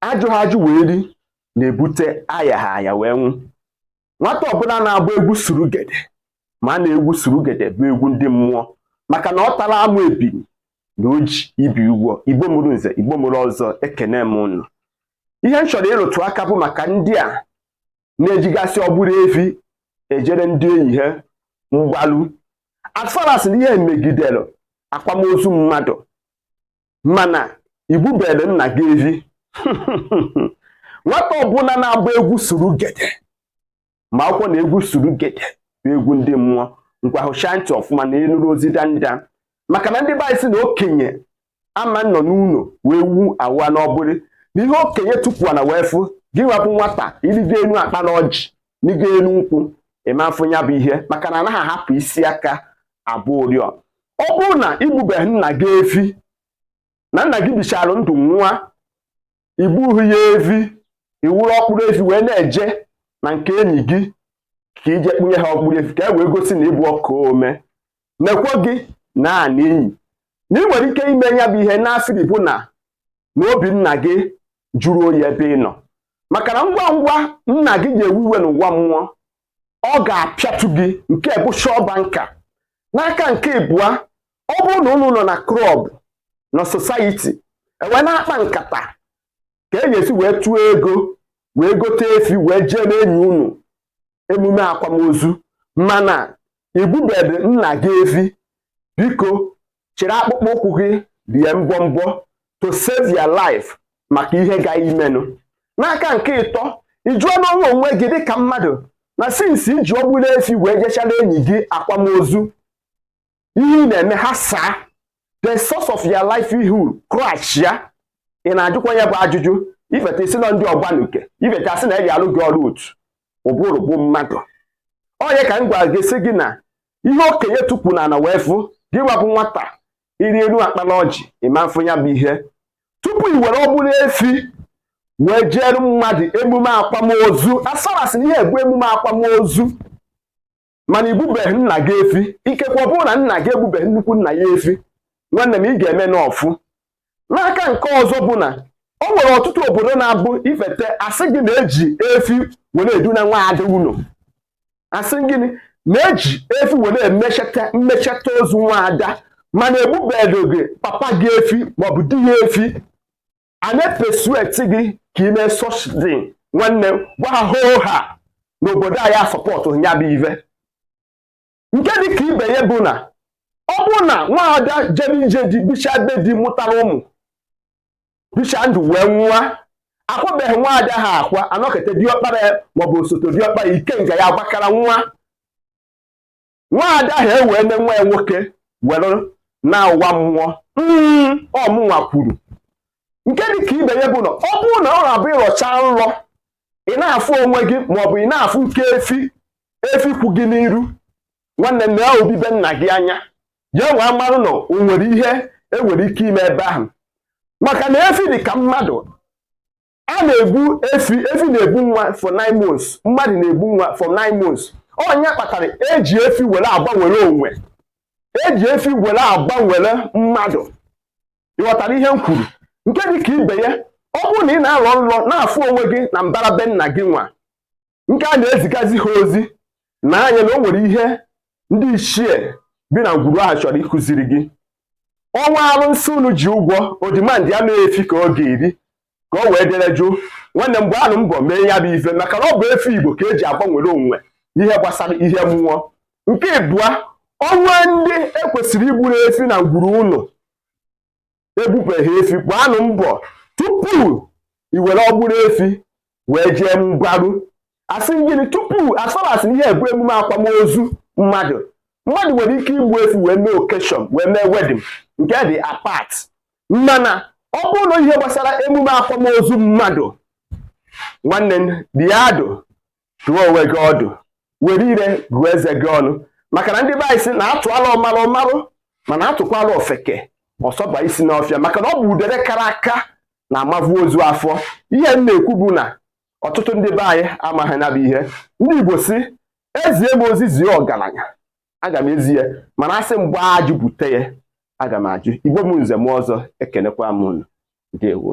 ajụghị ajụ wee ri na-ebute ayaghị aya wee nwụ nwata ọbụla na-agba egwu surugede maa na egwu surugede bụ egwu ndị mmụọ maka na ọ tara amụ ebiri na o ji ibi ụgwọ igbo mụrụ nze igbo mụrụ ọzọ ekene m unu ihe m chọrọ ịrụtụ aka bụ maka ndị a na-ejigasị ọgbụrị efi ejere ndị enyi ha mgbalu as far as ihe megidere akwamozu mmadụ mana i gbuberọ nna gị evi nwata ọbụla na-agba egwu suru gede makwukwaa na egwu suru gede bụ egwu ndị mmụọ ngwanụ shaa ntị ọfụma na ị nụrụ ozi danda maka na ndị be anyị sị na okenye ama nọ n'ụlọ ewu anwụa n'ọgbụrị na ihe okenye tukwu ana wee fụ gị nwa bụ nwata i rigo enu akpala ọjị rigo enu nkwụ ị ma-afụ ya bụ ihe maka na anaghị ahapụ isi aka agba ụrịọ ọ bụrụ na i gbubeghị nna gị efi na nna gị bichara ndụ nwụa i gbughị ya efi i wuru ọgbụrị efi wee na-eje na nke enyi gị ka i je kpụnye ha ọgbụrị efi ka e wee gosi na ị bụ ọka ome mekwa gị na ana enyi na i nwere ike ime ya bụ ihe n'asịrị bụ na na obi nna gị jụrụ oyi ebe ị nọ maka na ngwa ngwa nna gị ga-ewu iwe n'ụwa mmụọ ọ ga-apịatụ gị nke bụ shọba nka n'aka nke ịbụa ọ bụrụ na unu nọ na club na society e wee na-akpa nkata ka a ga-esi wee tụọ ego wee gote efi wee jeere enyi unu emume akwamozu mana i gbubedị nna gị efi biko chịrị akpụkpọ ụkwụ gị rie mbọmbọ to save your life maka ihe ga-emenụ n'aka nke ịtọ ị jụọna onwe onwe gị dịka mmadụ na since i ji ọgbụrị efi wee jechara enyi gị akwamozu ihe ị na-eme ha saa the source of your livelihood crash ya ị na-ajụkwa ya bụ ajụjụ i feta sị na ndị ọgbanuke i feta a sị na e ji alụ gị ọrụ otu ụbụrụ bụ mmadụ onye ka m gwa gị sị gị na ihe okenye tukwu n'ana wee fụ gị nwa bụ nwata ị rịa elu akpala ọjị ị ma-afụ ya bụ ihe tupu i were ọgbụrị efi wee jeere mmadụ emume akwamozu as far as na ihe a bụ emume akwamozu mana i gbubeghị nna gị efi ikekwe ọ bụrụ na nna gị egbubeghị nnukwu nna ya efi nwanne m ị ga-eme n'ọfụ n'aka nke ọzọ bụ na o nwere ọtụtụ obodo na-abụ i fete a sị gị na e ji efi were eduna nwa ada ụlọ a sị gị na e ji efi were emecheta mmecheta ozu nwa ada mana egbubeghị gị papa gị efi maọbụ di gị efi a na-epersuade gị ka i mee such thing nwanne gwa ha hoo ha na obodo anyị asupportụ ya bụ ive nke dị ka ibe ya bụ na ọ bụrụ na nwaada jere ije di bicha be di mụtara ụmụ bicha ndụ wee nwụa akwabeghị nwaada ahụ akwa anọkete diọkpara ya maọbụ osote diọkpa ya ikenga ya agbakara nwa nwaada ahụ ewee ne nwa ya nwoke were naa ụwa mmụọ mm, ọ mụnwa kwuru nke dị ka ibe ya bụ na ọ bụrụ na ọ na-abụ ị lọcha nlọ ị na-afụ onwe gị maọbụ ị na-afụ nke efi efi kwụ gị n'iru nwanne m lee obi be nna gị anya ya nwa mmanụ na o nwere ihe enwere ike ime ebe ahụ maka na efi dị ka mmadụ a na-egbu efi efi na-ebu nwa for nine months mmadụ na-ebu nwa for nine months ọ ya kpatara eji efi were agbanwere onwe eji efi were agbanwere mmadụ ị ghọtara ihe m kwuru nke dị ka ibe ya ọ bụrụ na ị na-alọ nlọ na-afụ onwe gị na mbara be nna gị nwa nke a na-ezigazi ha ozi na anya na o nwere ihe ndị ichie bi na ngwuru ahụ chọrọ ịkụziri gị o nwee alụnsị unu ji ụgwọ o demandị ya na efi ka ọ ga-eri ka o wee dere jụụ nwanne m gbaanụ mbọ mee ya bụ ife maka na ọ bụ efi igbo ka eji agbanwere onwe ihe gbasara ihe mmụọ nke ịbụa o nwee ndị ekwesịrị igburu efi na ngwuru unu egbubeghị efi gbaanụ mbọ tupu i were ọgbụrụ efi wee jee mgbaru asị gịnị tupu as long as ihe a bụ emume akwamozu mmadụ mmadụ nwere ike igbu efi wee mee occasion wee mee wedding nke dị apart mana ọ bụrụ na ihe gbasara emume akwamozu mmadụ nwanne m dị ya adụ dụọ onwe gị ọdụ were ire gụọ eze gị ọnụ maka na ndị be anyị si na atụala ọmarụ ọ marụ mana atụkwala ofeke ọ sọba isi n'ọfịa maka na ọ bụ udere kara aka na-amavu ozu afọ ihe m na-ekwu bụ na ọtụtụ ndị be anyị amaghị na ọ bụ ihe ndị Igbo si ezie m ozi zie ọgaranya aga m ezi ya mana asị m gbaa ajụ bute ya aga m ajụ igbo m nze m ọzọ ekenekwa m unu ndewo